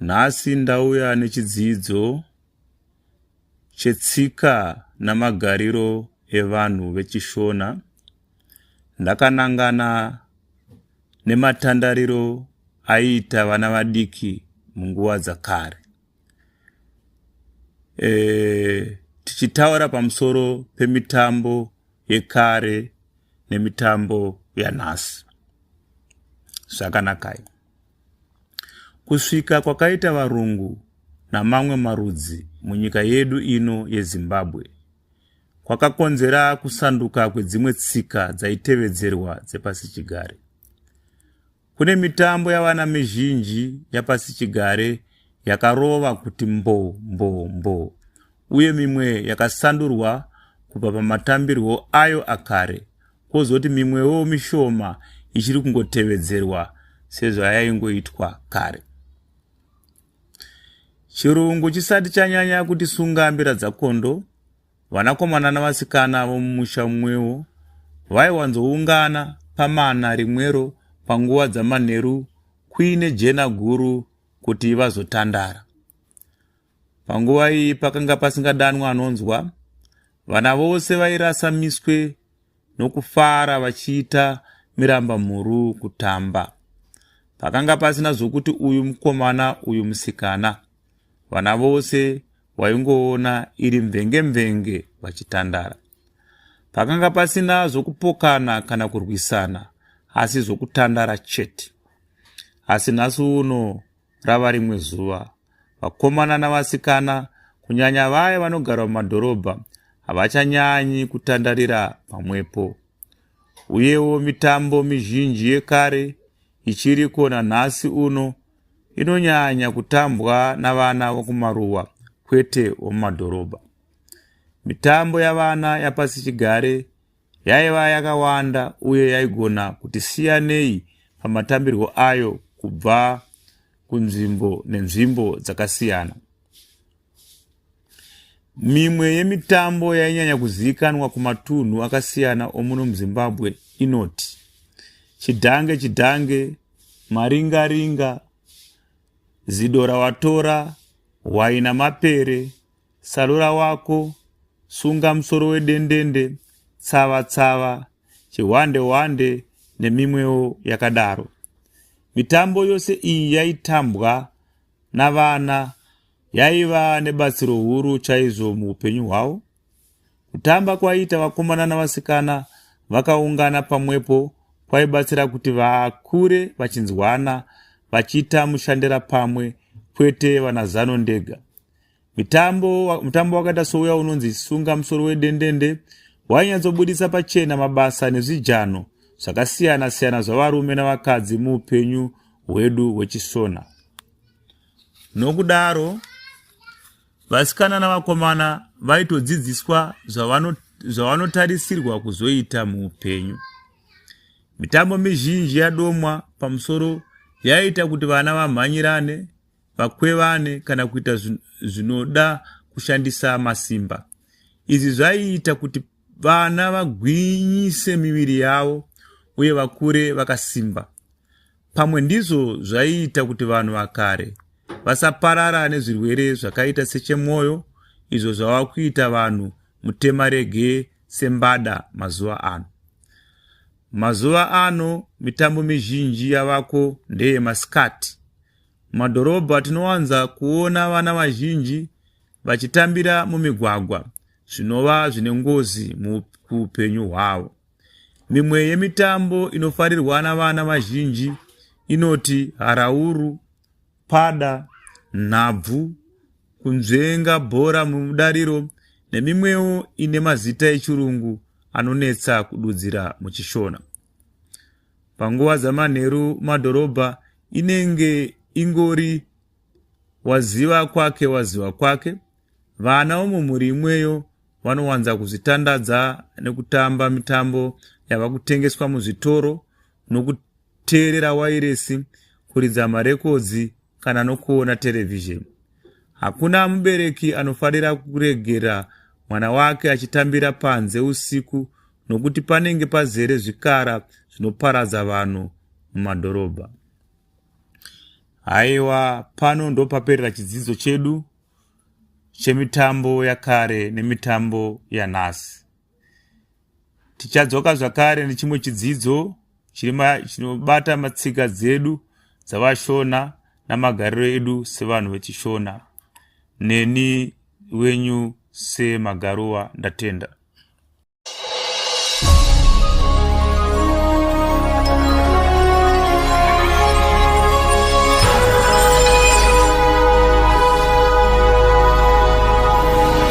Nhasi ndauya nechidzidzo chetsika namagariro evanhu vechishona. Ndakanangana nematandariro aiita vana vadiki munguva dzakare. E, tichitaura pamusoro pemitambo yekare nemitambo yanhasi. Zvakanakai. Kusvika kwakaita varungu namamwe marudzi munyika yedu ino yezimbabwe kwakakonzera kusanduka kwedzimwe tsika dzaitevedzerwa dzepasichigare kune mitambo yavana mizhinji yapasichigare yakarova kuti mbo mbo mbo uye mimwe yakasandurwa kubva pamatambirwo ayo akare kwozoti mimwewo mishoma ichiri kungotevedzerwa sezvayaingoitwa kare chirungu chisati chanyanya kuti sunga mbira dzakondo vanakomana navasikana vomumusha mumwewo vaiwanzoungana pamana rimwero panguva dzamanheru kuine jena guru kuti vazotandara Panguva iyi pakanga pasingadanwa anonzwa, vana vose vairasa miswe nokufara vachiita miramba mhuru kutamba. Pakanga pasina zvokuti uyu mukomana uyu musikana, vana vose waingoona iri mvenge mvenge vachitandara. Pakanga pasina zvokupokana kana kurwisana, asi zvokutandara chete. Asi nhasi uno Rava rimwe zuva, vakomana navasikana, kunyanya vaya vanogara mumadhorobha, havachanyanyi kutandarira pamwepo. Uyewo mitambo mizhinji yekare ichiriko nanhasi uno inonyanya kutambwa navana vokumaruwa kwete womumadhorobha. Mitambo yavana yapasichigare Yaiva yakawanda uye yaigona kuti siyanei pamatambirwo ayo kubva kunzvimbo nenzvimbo dzakasiyana. Mimwe yemitambo yainyanya kuzivikanwa kumatunhu akasiyana omuno muZimbabwe inoti chidhange chidhange, maringaringa, zidora watora, hwaina mapere, Sarura wako, sunga musoro wedendende, tsava tsava, chihwande hwande nemimwewo yakadaro. Mitambo yose iyi yaitambwa navana yaiva nebatsiro huru chaizvo muupenyu hwavo. Kutamba kwaiita vakomana navasikana vakaungana pamwepo kwaibatsira kuti vakure vachinzwana vachiita mushandira pamwe kwete vanazano ndega. Mitambo, mutambo wakaita souya unonzi sunga musoro wedendende wainyatsobudisa pachena mabasa nezvijano zvakasiyana siyana zvavarume navakadzi muupenyu hwedu hwechisona nokudaro vasikana navakomana vaitodzidziswa zvavanotarisirwa kuzoita muupenyu mitambo mizhinji yadomwa pamusoro yaiita kuti vana vamhanyirane vakwevane kana kuita zvinoda kushandisa masimba izvi zvaiita kuti vana vagwinyise miviri yavo uye vakure vakasimba pamwe ndizvo zvaiita kuti vanhu vakare vasaparara nezvirwere zvakaita sechemwoyo izvo zvava kuita vanhu mutema rege sembada mazuva ano mazuva ano mitambo mizhinji yavako ndeyemasikati Mumadhorobha tinowanza kuona vana vazhinji vachitambira mumigwagwa zvinova zvine ngozi muupenyu hwavo. Mimwe yemitambo inofarirwa navana vazhinji inoti harauru, pada, nhabvu, kunzvenga bhora mudariro nemimwewo ine mazita echirungu anonetsa kududzira muchishona. panguva dzamanheru madhorobha inenge ingori waziva kwake waziva kwake vana vomumhuri imweyo vanowanza kuzvitandadza nekutamba mitambo yava kutengeswa muzvitoro nokuteerera wairesi kuridza marekodzi kana nokuona terevhizheni. Hakuna mubereki anofarira kuregera mwana wake achitambira panze usiku nokuti panenge pazere zvikara zvinoparadza vanhu mumadhorobha. Haiwa, pano ndopaperera chidzidzo chedu chemitambo yakare nemitambo yanhasi. Tichadzoka zvakare nechimwe chidzidzo chinobata matsika dzedu dzavashona namagariro edu sevanhu vechishona neni wenyu semagaruwa ndatenda